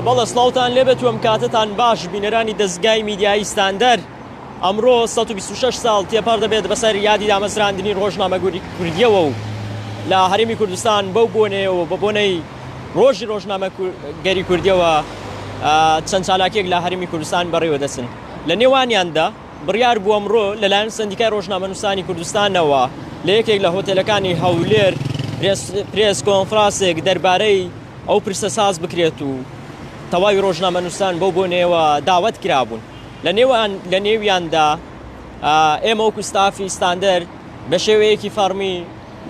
بەڵە سلااوان لێبێت وم کاتتان باش بینەرانی دەستگای میدیایی ستاندەر ئەمڕۆ 126 ساڵ تێپەر دەبێت بەسەر یادی دامەزراندنی ڕۆژنامەگوری کوردیەوە و لە هەرمی کوردستان بەو بۆنەیەوە بە بۆنەی ڕۆژی ڕۆژنامەگەری کوردیەوە چەند چالاکیەک لە هەرێمی کوردستان بەڕیوە دەچن لە نێوانیاندا بڕیار بووە ئەمڕۆ لەلایەن سندیکای ڕۆژنامەنووسانی کوردستانەوە لە یەکێک لە هۆتێلەکانی هەولێر پرێس کۆنفراسێک دەربارەی ئەو پرسە ساز بکرێت و تەواوی ڕۆژنامەنووسان بەو بۆنەیەوە داوت کرابوون لە نێوان لە نێویاندا ئێمە وەکو ستافی ستاندەر بە شێوەیەکی فەرمی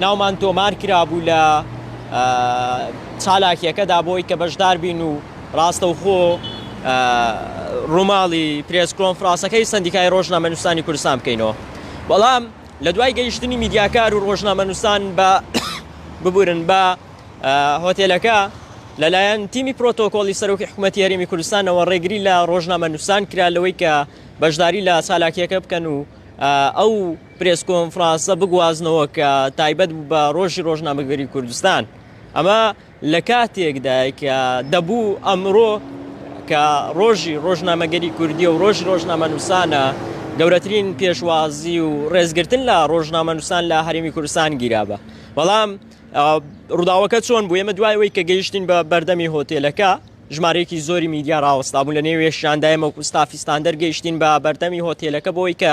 ناومان تۆمار کرابوو لە چالاکیەکەدا بۆی کە بەشدار بین و ڕاستەوخۆ ڕووماڵی پرێس کۆنفراسەکەی سندیکای ڕۆژنامە نووسانی کوردستان بکەینەوە بەڵام لە دوای گەیشتنی میدیاکار و ڕۆژنامە نووسان بە ببورن بە هۆتێلەکە لەلایەن تیمی پرۆتۆکۆلی سەرۆکی حکوومەت یاریمی کوردستانەوە ڕێگری لە ڕۆژنامە نووسان کرا لەوەی کە بەشداری لە چالاکیەکە بکەن و ئەو پرێس کۆنفرانسە بگوازنەوە کە تایبەت بوو بە ڕۆژی ڕۆژنامەگەری کوردستان ئەمە لە کاتێکدای کە دەبوو ئەمرۆ کە ڕۆژی ڕۆژنامەگەری کوردی و ڕۆژی ڕۆژنامە نووسانە گەورەترین پێشوازی و ڕێزگرتن لە ڕۆژنامە نووسان لە هەرمی کوردستان گیرابە بەڵام ڕووداوەکە چۆن بوو ئێمە دوایەوەی کە گەیشتین بە بەردەمی هۆتێلەکە ژمارەیەکی زۆری میدیا ڕاوەستابوو لە نێوێشاندایمە و کوستافیستان دەرگەیشتین بە بەردەمی هۆتێلەکە بۆی کە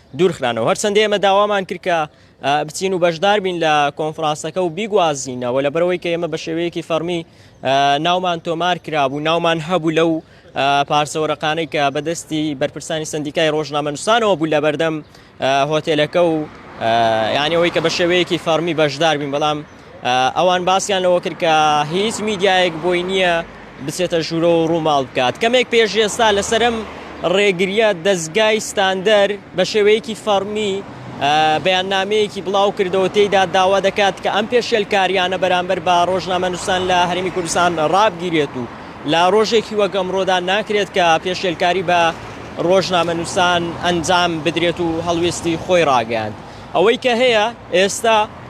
دوورخرانەوە، هەرچەندە ئێمە داوامان کرد کە بچین و بەشدار بین لە کۆنفرانسەکە و بیگوازینەوە لەبەرەوەی کە ئێمە بە شێوەیەکی فەرمی ناومان تۆمار کرابوو ناومان هەبوو لەو پارسەوەرەقانەی کە بەدەستی بەرپرسانی سندیکای ڕۆژنامەنووسانەوە بوو لە بەردەم هۆتێلەکە و یانەوەی کە بە شێوەیەکی فەرمی بەشدار بین بەڵام ئەوان باسیان لەوە کرد کە هیچ میدیایەک بۆی نییە بچێتە ژوورە و ڕووماڵ بکات کەمێک پێش ئێستا لەسرم ڕێگریە دەستگای ستاندەر بە شێوەیەکی فەرمی بەیاننامەیەکی بڵاو کردەوە تێیدا داوا دەکات کە ئەم پێشێلکاریانە بەرامبەر بە ڕۆژنامە نووسان لە هەرمی کوردستان ڕابگیرێت و لە ڕۆژێکی وەگەمڕۆدا ناکرێت کە پێشێلکاری بە ڕۆژنامە نووسان ئەنجام بدرێت و هەڵوێستی خۆی ڕاگەیاند ئەوەی کە هەیە ئێستا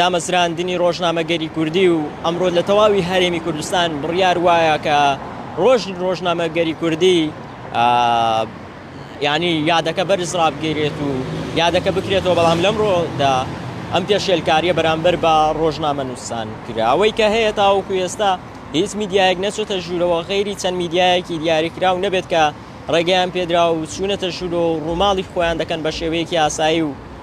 دامەزراندنی ڕۆژنامەگەری کوردی و ئەمڕۆ لە تەواوی هەرێمی کوردستان بڕیار وایە کە ڕۆژ ڕۆژنامەگەری کوردی ینی یادەکە بەرز ڕابگەرێت و یادەکە بکرێتەوە بەڵام لەمڕۆدا ئەم پێشێلکاریە بەرامبەر بە ڕۆژنامە نووسان کراوەی کە هەیە تاوەکو ئێستا هیچ میدیایەک نەچێتە ژوورەوە غیری چەند میدیایەکی دیاریکراو نەبێت کە ڕێگەیان پێدرا و چوونەتە ژوور و ڕووماڵی خۆیان دەکەن بە شێوەیەکی ئاسایی و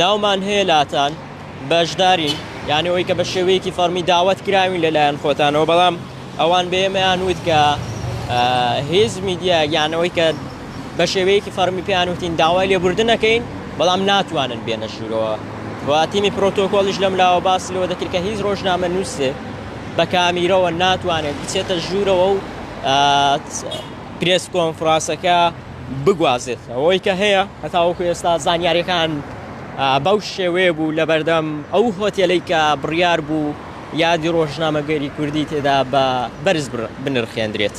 ناومان هەیە لاتان بەشدارین یانی ئەوەی کە بە شێوەیەکی فەرمی داوەت کراوین لەلایەن خۆتانەوە بەڵام ئەوان بەێمەیان وت کە هێز میدیا یانەوەی کە بە شێوەیەکی فەرمی پێیان وتین داوای لێبوردنەکەین بەڵام ناتوانن بێنە ژوورەوە و تیمی پرۆتۆکۆلیش لەم لاوە باس لەوە دەکرد کە هیچ ڕۆژنامە نووسێ بە کامیرەوە ناتوانێت بچێتە ژوورەوە و پرێس کۆنفراسەکە بگوازێت، ئەوەی کە هەیە هەتاوەکو ئێستا زانیاریەکان بەو شێوەیە بوو لەبەردەم ئەو هۆتێلەی کە بڕیار بوو یادی ڕۆژنامەگەری کوردی تێدا بە بەرز بنرخێندرێت.